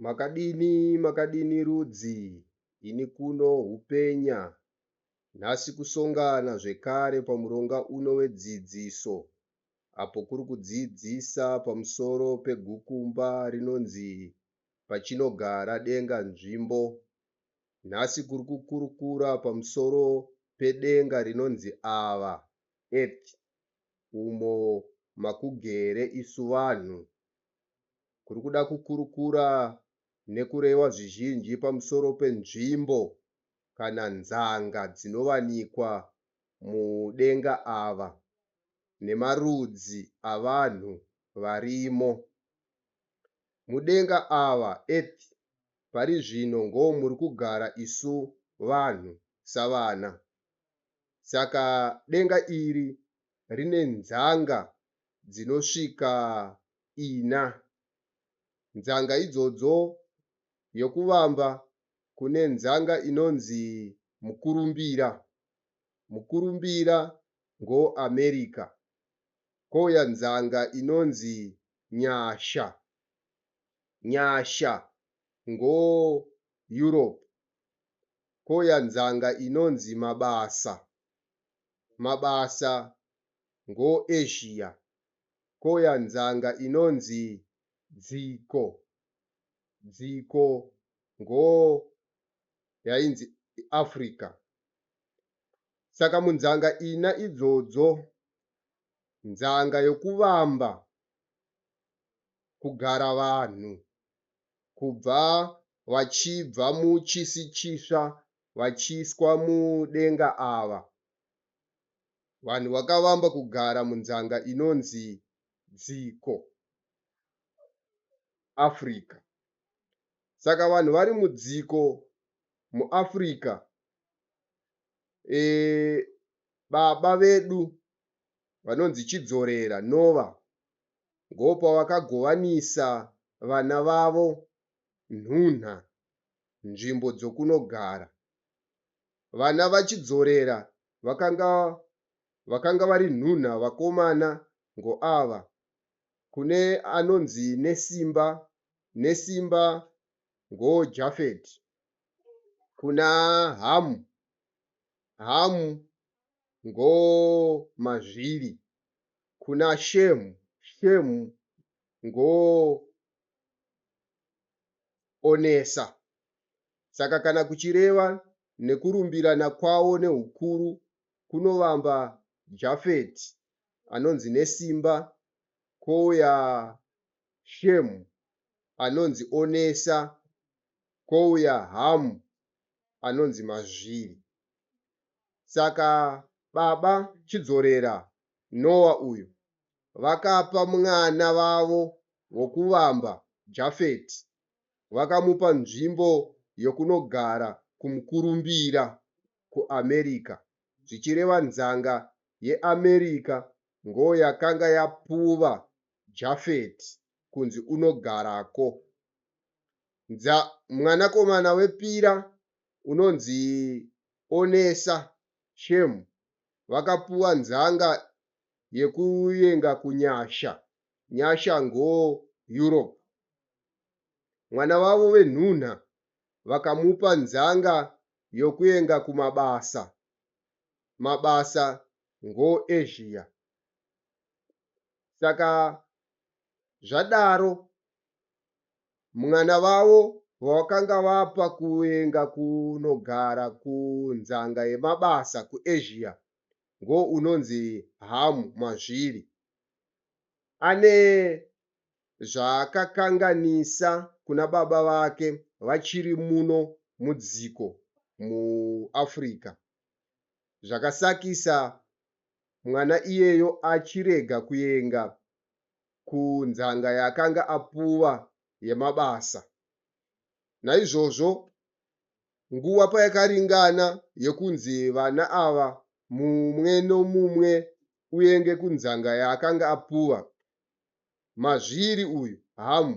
Makadini makadini rudzi ini kuno hupenya nhasi kusongana zvekare pamuronga uno wedzidziso apo kuri kudzidzisa pamusoro pegukumba rinonzi Pachinogara Denga Nzvimbo. Nhasi kuri kukurukura pamusoro pedenga rinonzi Ava, Earth, umo makugere isu vanhu kuri kuda kukurukura nekurewa zvizhinji pamusoro penzvimbo kana nzanga dzinovanikwa mudenga ava nemarudzi avanhu varimo mudenga ava, earth, pari zvino ngoo muri kugara isu vanhu savana. Saka denga iri rine nzanga dzinosvika ina. Nzanga idzodzo yokuvamba kune nzanga inonzi mukurumbira. Mukurumbira ngo America. Kouya nzanga inonzi nyasha. Nyasha ngo Europe. Kouya nzanga inonzi mabasa. Mabasa ngo Asia ko ya nzanga inonzi dziko dziko ngo yainzi Africa saka munzanga ina idzodzo nzanga yokuvamba kugara vanhu kubva vachibva muchisi chisva vachiiswa mudenga ava vanhu vakavamba kugara munzanga inonzi Dziko, Africa. Saka vanhu vari mudziko muAfrica e, baba vedu vanonzi Chidzorera Nova ngopavakagovanisa vana vavo nhunha, nzvimbo dzokunogara. Vana vaChidzorera vakanga vakanga vari nhunha vakomana ngo ava kune anonzi Nesimba Nesimba ngo Japhet kuna Hamu Hamu ngo Mazviri kuna Shemu Shemu ngo Onesa. Saka kana kuchireva nekurumbirana kwawo neukuru kunovamba Jafeti anonzi nesimba kouya Shemu anonzi onesa kouya Hamu anonzi mazviri. Saka baba Chidzorera, Nowa uyu, vakapa mwana vavo wokuvamba Jafeti vakamupa nzvimbo yokunogara kumukurumbira kuAmerica, zvichireva nzanga yeAmerica ngo yakanga yapuva Japhet kunzi unogarako. Ndza mwanakomana wepira unonzi Onesa, Shem, vakapuwa nzanga yekuyenga kuNyasha, Nyasha ngo Europe. Mwana wavo venhunha vakamupa nzanga yokuenga kumabasa mabasa ngo Asia. Saka zvadaro mwana vavo vawakanga vapa kuenga kunogara kunzanga yemabasa ku Asia ngo unonzi Hamu Mazviri. Ane zvaakakanganisa kuna baba vake vachiri muno mudziko muAfrica zvakasakisa mwana iyeyo achirega kuenga kunzanga yaakanga apuwa yemabasa. Naizvozvo nguva payakaringana yekunzi vana ava mumwe nomumwe uenge kunzanga yaakanga apuwa, Mazviri uyu Hamu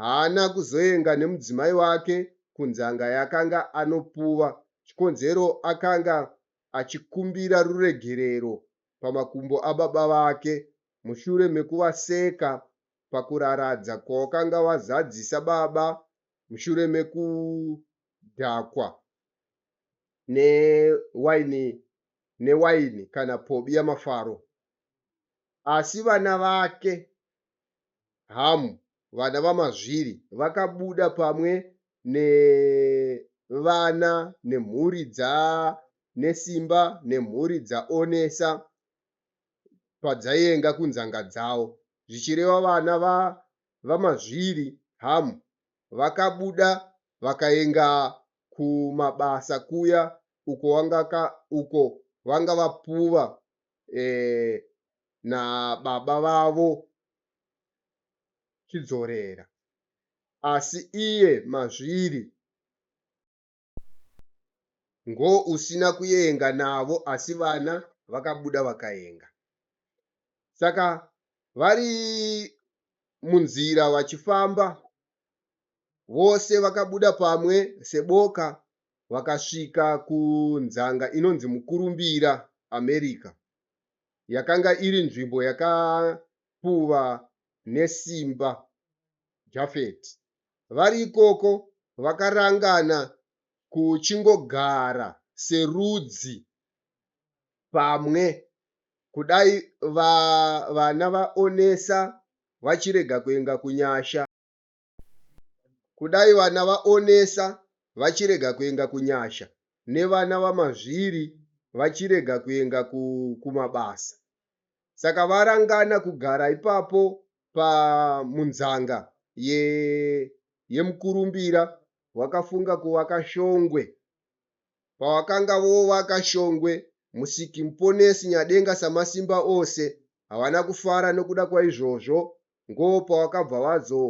haana kuzoenga nemudzimai wake kunzanga yakanga anopuva chikonzero akanga achikumbira ruregerero pamakumbo ababa vake mushure mekuvaseka pakuraradza kwawakanga wazadzisa baba mushure mekudhakwa newaini newaini kana pobi yamafaro. Asi vana vake, Hamu, vana vamazviri, vakabuda pamwe nevana nemhuri dza Nesimba nemhuri dza Onesa padzayenga kunzanga dzawo, zvichireva vana va vamazviri, Hamu, vakabuda vakayenga kumabasa kuya uko vanga vapuva eh, nababa vavo Chidzorera asi iye Mazviri ngo usina kuyenga navo asi vana vakabuda vakayenga saka vari munzira vachifamba vose vakabuda pamwe seboka vakasvika kunzanga inonzi Mukurumbira, America. Yakanga iri nzvimbo yakapuva nesimba Jafeti. Vari ikoko, vakarangana kuchingogara serudzi pamwe kudai vana vaOnesa vachirega kuenda kunyasha. Kudai vana vaOnesa vachirega kuenga kunyasha nevana vaMazviri vachirega kuenga ku, kumabasa. Saka varangana kugara ipapo pa munzanga ye, yemukurumbira wakafunga kuvaka shongwe. Pawakanga vovaka shongwe, Musiki Muponesi Nyadenga Samasimba ose havana kufara nokuda kwaizvozvo ngo pawakabva wazo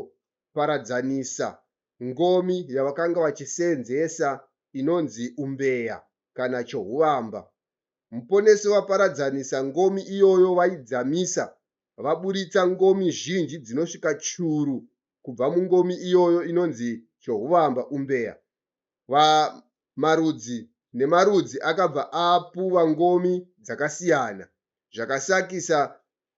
paradzanisa ngomi yavakanga vachiseenzesa inonzi umbeya kana chohuvamba. Muponesi vaparadzanisa ngomi iyoyo vaidzamisa vaburitsa ngomi zhinji dzinosvika churu kubva mungomi iyoyo inonzi chohuvamba umbeya. Va marudzi nemarudzi akabva apuva ngomi dzakasiyana zvakasakisa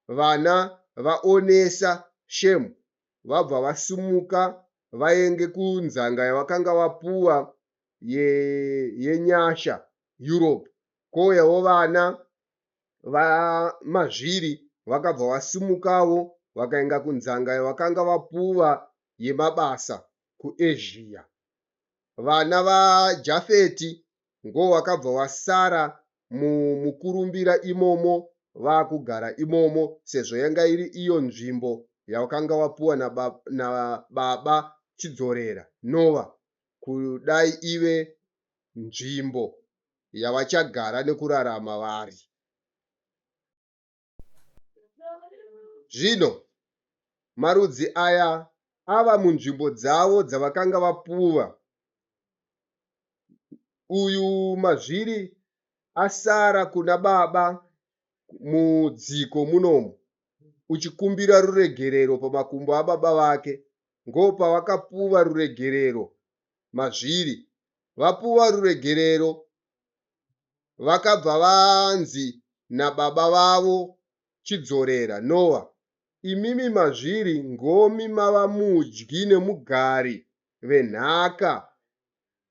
vana vaonesa shame vabva vasimuka vaenge kunzanga yavakanga vapuwa ye yenyasha Europe kouyawo vana va mazviri vakabva vasimukawo vakaenga kunzanga yavakanga vapuwa yemabasa ku Asia vana va Jafeti ngowakabva wasara mu, mukurumbira imomo vakugara imomo sezvo yanga iri iyo nzvimbo yawakanga wapuwa na, ba, na baba Chidzorera Nova kudai ive nzvimbo yavachagara nekurarama vari. Zvino marudzi aya ava munzvimbo dzavo dzavakanga vapuwa. Uyu mazviri asara kuna baba mudziko munomu uchikumbira ruregerero pamakumbo ababa vake. Ngoopavakapuwa ruregerero mazviri. Vapuwa ruregerero vakabva vanzi nababa vavo Chidzorera, Noah, imimi mazviri ngomi mava mudyi nemugari venhaka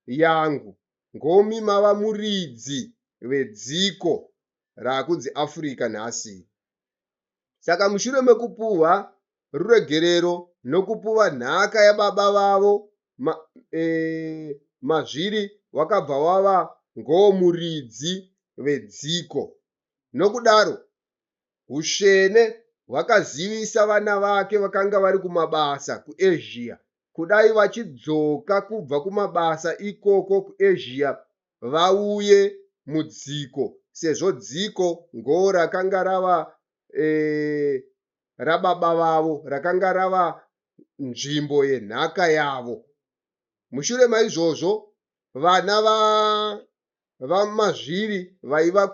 yangu, ngomi mava muridzi vedziko rakunzi Africa nhasi iri. Saka mushure mekupuhwa ruregerero nokupuva nhaka yababa vavo ma, e, mazviri wakabva wava ngowomuridzi vedziko. Nokudaro, usvene hwakazivisa vana vake vakanga vari kumabasa kuEzhiya. Kudai vachidzoka kubva kumabasa ikoko kuEzhiya vauye mudziko, sezvo dziko ngowo rakanga rava e, rababa vavo rakanga rava nzvimbo yenhaka yavo. Mushure maizvozvo, vana vaMazviri vaiva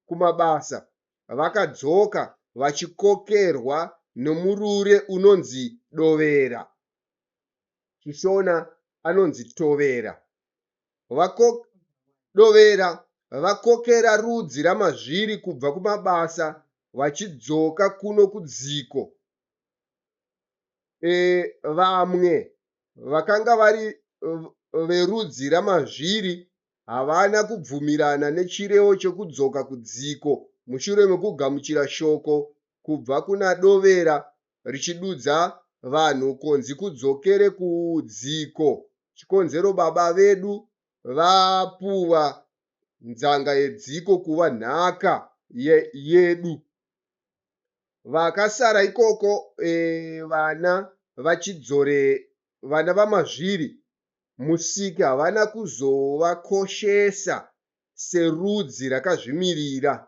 kumabasa vakadzoka vachikokerwa nomurure unonzi dovera, Chishona anonzi tovera. Vakodovera vakokera rudzi ramazviri kubva kumabasa vachidzoka kuno kudziko. E, vamwe vakanga vari verudzi ramazviri havana kubvumirana nechirevo chekudzoka kudziko mushure mekugamuchira shoko kubva kuna Dovera richidudza vanhu konzi kudzokere kudziko chikonzero baba vedu vapuwa nzanga yedziko kuva nhaka ye, yedu vakasara ikoko e, vana vachidzore vana vamazviri musiki havana kuzovakoshesa serudzi rakazvimirira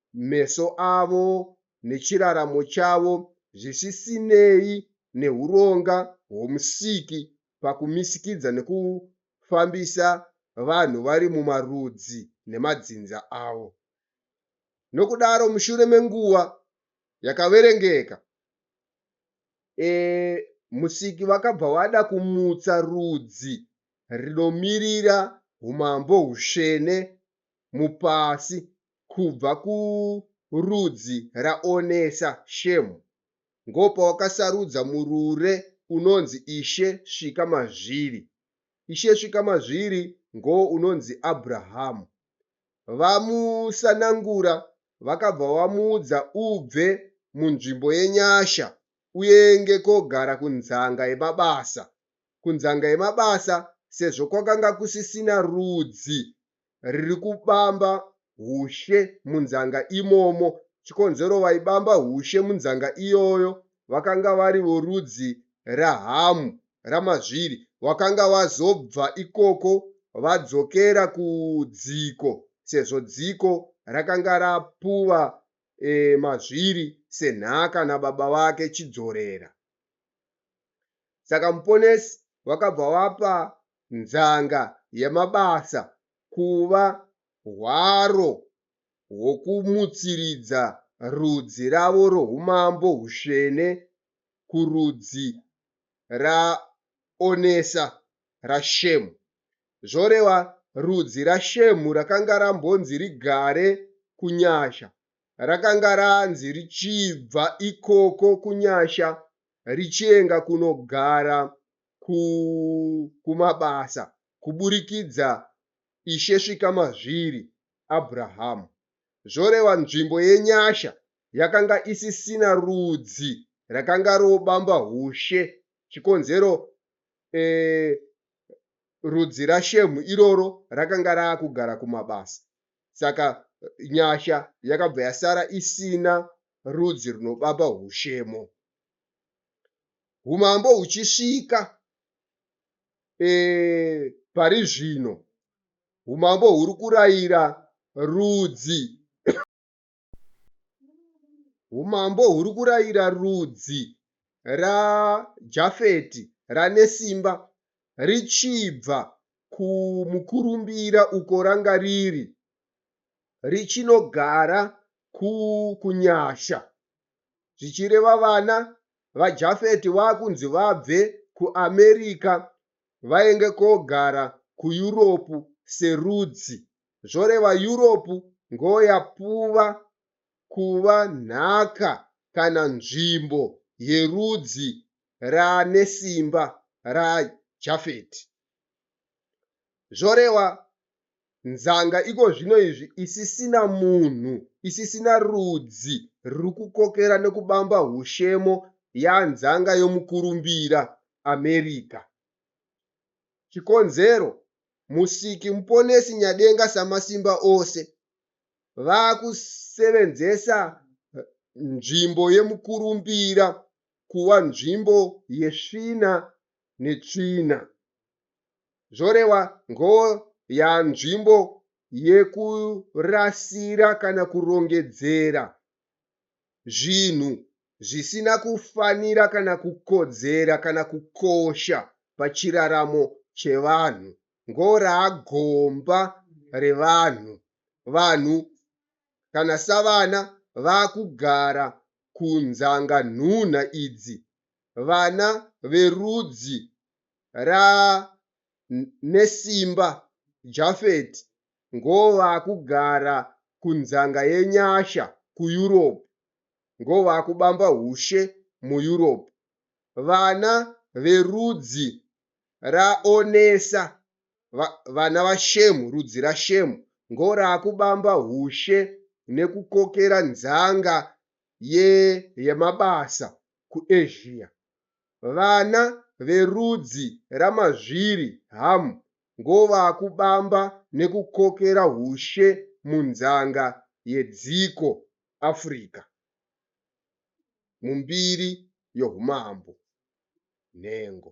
meso avo nechiraramo chavo zvisisinei nehuronga hwoMusiki pakumisikidza nekufambisa vanhu vari mumarudzi nemadzinza avo. Nokudaro, mushure menguva yakaverengeka, e, Musiki vakabva vada kumutsa rudzi rinomirira umambo hutsvene mupasi Kubva kurudzi raOnesa, Shemu, ngopawakasarudza murure unonzi Ishe Svika Mazviri. Ishe Svika Mazviri ngowo unonzi Abrahamu. Vamusanangura vakabva vamuudza ubve munzvimbo yenyasha uenge kogara kunzanga yemabasa. Kunzanga yemabasa sezvo kwakanga kusisina rudzi riri kubamba hushe munzanga imomo. Chikonzero vaibamba hushe munzanga iyoyo vakanga vari vorudzi raHamu, raMazviri, wakanga wazobva ikoko vadzokera kudziko sezvo dziko rakanga rapuwa e, Mazviri senhaka nababa vake Chidzorera. Saka Muponesi vakabva vapa nzanga yemabasa kuva hwaro hwokumutsiridza rudzi ravo roumambo husvene kurudzi raonesa raShemu. Zvoreva rudzi raShemu rakanga rambonzi rigare kunyasha rakanga ranzi richibva ikoko kunyasha richienga kunogara ku, kumabasa kuburikidza Ishe svika mazviri Abrahamu. Zvoreva nzvimbo yenyasha yakanga isisina rudzi rakanga robamba hushe, chikonzero eh, rudzi raShemu iroro rakanga raakugara kumabasa. Saka nyasha yakabva yasara isina rudzi runobaba hushemo. humambo huchisvika e, pari zvino humambo huri kurayira rudzi humambo huri kurayira rudzi rajafeti ranesimba richibva kumukurumbira uko ranga riri richinogara kunyasha zvichireva vana vaJafeti vakunzi vabve kuAmerica vainge kogara kuEurope serudzi, zvoreva Europe ndoyapuva kuva nhaka kana nzvimbo yerudzi ranesimba raJafeti. Zvoreva Nzanga iko zvino izvi isisina munhu, isisina rudzi ruri kukokera nekubamba hushemo yanzanga yomukurumbira, America. Chikonzero, Musiki Muponesi Nyadenga Samasimba ose vakusevenzesa nzvimbo yemukurumbira kuva nzvimbo yesvina netsvina. zvorewa ngoo yanzvimbo yekurasira kana kurongedzera zvinhu zvisina kufanira kana kukodzera kana kukosha pachiraramo chevanhu ngoo raagomba revanhu vanhu kana savana vakugara kunzanga nhunha idzi vana verudzi ra nesimba Japhet ngovakugara kunzanga yenyasha ku Europe ngovakubamba hushe mu Europe vana verudzi ra Onesa vana va Shem rudzi ra Shem ngorakubamba hushe nekukokera nzanga ye yemabasa ku Asia Vana verudzi ramazviri Ham ngovakubamba nekukokera hushe munzanga yedziko Africa mumbiri yohumambo. Nhengo.